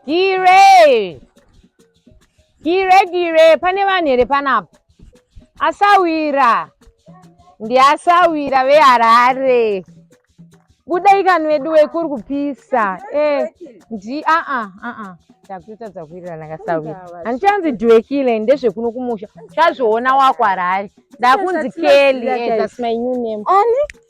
Gire! Gire, gire, pane vanhu here panapa? Asawira! Ndiasawira veHarare. Budai kani wedu wekuri kupisa. Eh, ndi a a a a. Takuita dzakuirira nakasawira. Handichanzi Dwekile ndezvekuno kumusha. Chazviona wako Harare. Ndakunzi Kelly, eh, that's my new name. Ani?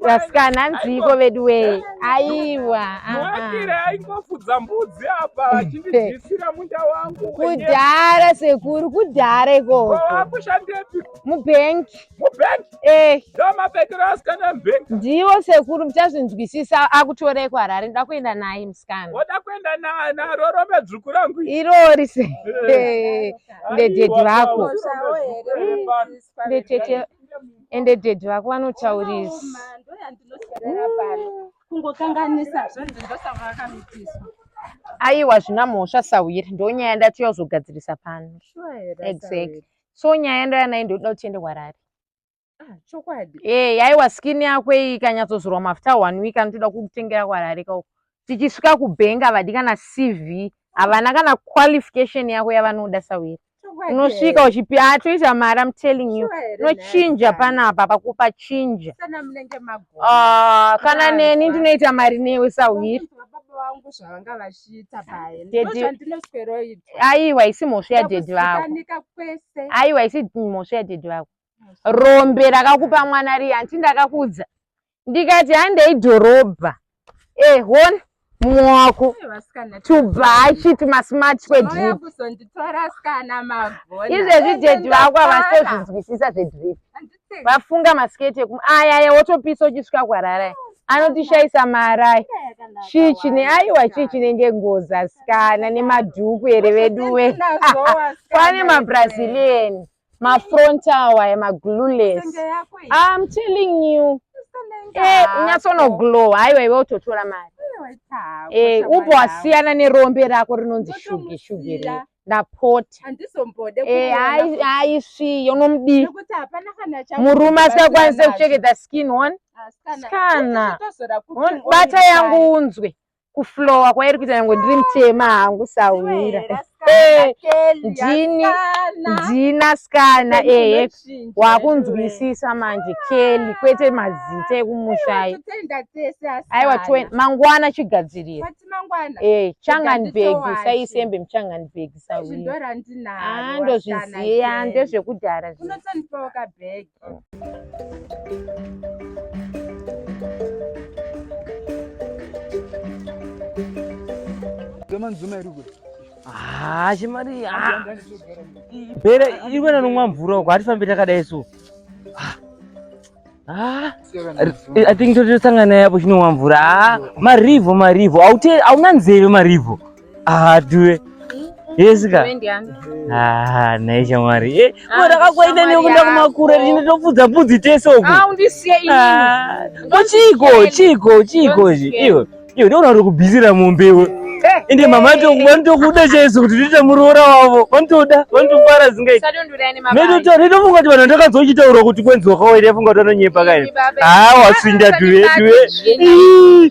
Vasikana hanziiko vedu wee. Aiwa. Mwakire ah, ah. aingofudza mbudzi apa achindidyisira munda wangu. Kudhara sekuru kudhara ikoko. Wakushandepi? Mubank. Mubank? Eh. Ndiwo mabhekero asikana mubank. Ndiwo sekuru muchazvinzwisisa akutorei kuHarare ndoda kuenda naye musikana. Woda kuenda naye naro rove dzvuku rangu. Irori se. Eh. Eh. Ndedhedhi vako. Ndetete. ende daddy vako vanotaurisa aiwa zvina mhosva sahwiri ndonyaya ndati yozogadzirisa pano exactly so nyaya yandoyanayi ndoda kuti tiende kwarari ah, chokwadi e eh, yaiwa skin yako iyi ikanyatsozorwa mafuta one week anotoda kukutengera kwarari kauko tichisvika kubank havadi kana cv havana kana qualification yako yavanoda sawiri unosvika uchipi hatoita mari am telling you unochinja panapa pakupa chinja ah, kana neni ndinoita mari newe sawiri vangu zvavanga vachiita paye ndozvandinosweroitwa aiwa isi mhosva yadhedhi vako kwese aiwa isi mhosva yadhedhi vako rombe rakakupa mwana riya hanti ndakakudza ndikati handei dhorobha eh hona mumwe wako tubhachi tumasmart kwedrip izvezvi dhedhi vako havasitozvinzwisisa zvedrip vafunga masiketi ekum ayaya wotopisa uchisvika kwararai anotishaisa marai chii chine aiwa chii chinenge ngozi asikana nemadhuku here veduwe kwane mabrazilian ma front awa ya ma glueless i'm telling you eh unyasono glow haiwa iwe utotora mari eh upo wasiyana nerombe rako rinonzi shuge shuge re ndapota eh hai hai svi yonomdi murume asakwanisa kucheketa skin one ah, scan bata yangu unzwe kuflowa kwairi kuita nyange ndiri mutema hangu sahwira ndini ndina skana ehe wakunzwisisa manje keli kwete mazita ekumushayi aiwa mangwana chigadzirira ee changanbeg saisembe muchanganbeg sahwira ndozviziva ndezvekudhara zvi manzuma iri kwe haa chimari bere iri kuenda nomwa mvura uko hatifambi takadai so i think totosangana yapo chinomwa mvura haa marivho marivho hauna nzeve marivho Ah, duwe. Yes ka. Ah, naye shamwari. Eh, bora kakwaita ne kunda kumakura rine topfudza pudzi tese uko. Ah, undisiye ini. Ah, chiko, chiko, chiko. Iwe. Iwe ndiona uri kubizira mombe iwe. Eh, Ende mama to eh. vanotokuda chaiso kuti tiite muroora wavo. Vanotoda, vanotofara zingai. Medo to redo funga kuti vanhu ndakazochitaura kuti kwenzi wakawaira funga kuti vanonyepa kai. Ah, wasinda duwe, duwe.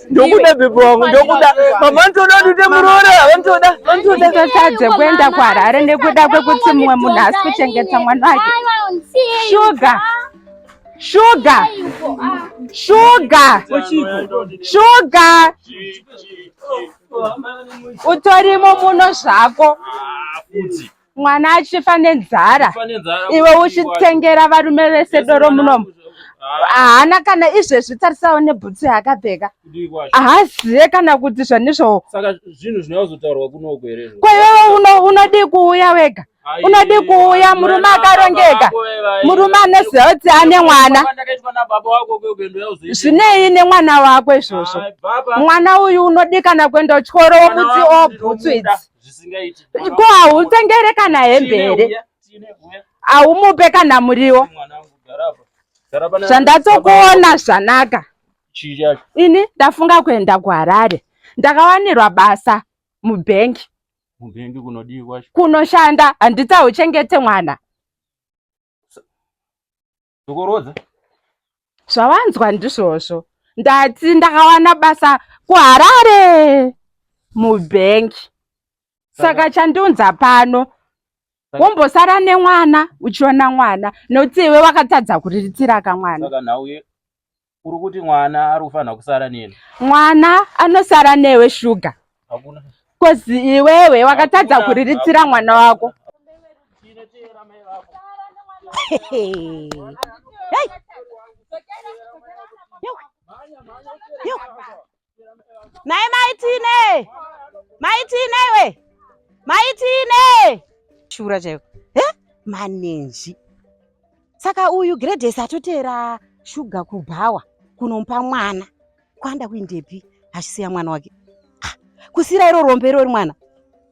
ndokuda bhebho wangu ndokuda mama ndoda ndite muroora vandoda vandodatadze kuenda kuharare nekuda kwekuti mumwe munhu asi kuchengeta mwana wake shuga shuga shuga shuga utorimo muno zvako ah, mwana achifa nenzara iwe uchitengera varume vese doro munomu haana kana izvezvi tarisawo nebhutsu yaakapfeka haazive kana kuti zvanizvo kwaiwewe unodii kuuya wega unodii kuuya murume akarongeka murume anoziva kuti ane mwana zvinei nemwana wako izvozvo mwana uyu unodii kana kuenda uchikoro womuti obhutsu idzi zvisingaiti ko hautengere kana hembe here haumupe kana muriwo zvandatokuona zvanaka ini ndafunga kuenda kuharare ndakawanirwa basa mubhengi mubhengi kunodii kwacho kunoshanda handitsauchengete mwana ndokuroodza zvawanzwa ndizvozvo ndati ndakawana basa kuharare mubhengi saka chandiunza pano wombosara nemwana uchiona mwana nokuti iwe wakatadza kuriritira kamwana uri kuti mwana ari kufanira kusara neni mwana anosara newe shuga kozi iwewe wakatadza kuriritsira mwana wako naye maitine maitine we maitine shura chaiko he manenji saka uyu gradesi atoteera shuga kubhawa kunomupa mwana kwanda kuindepi achisiya mwana wake ah, kusira iro rombe irori mwana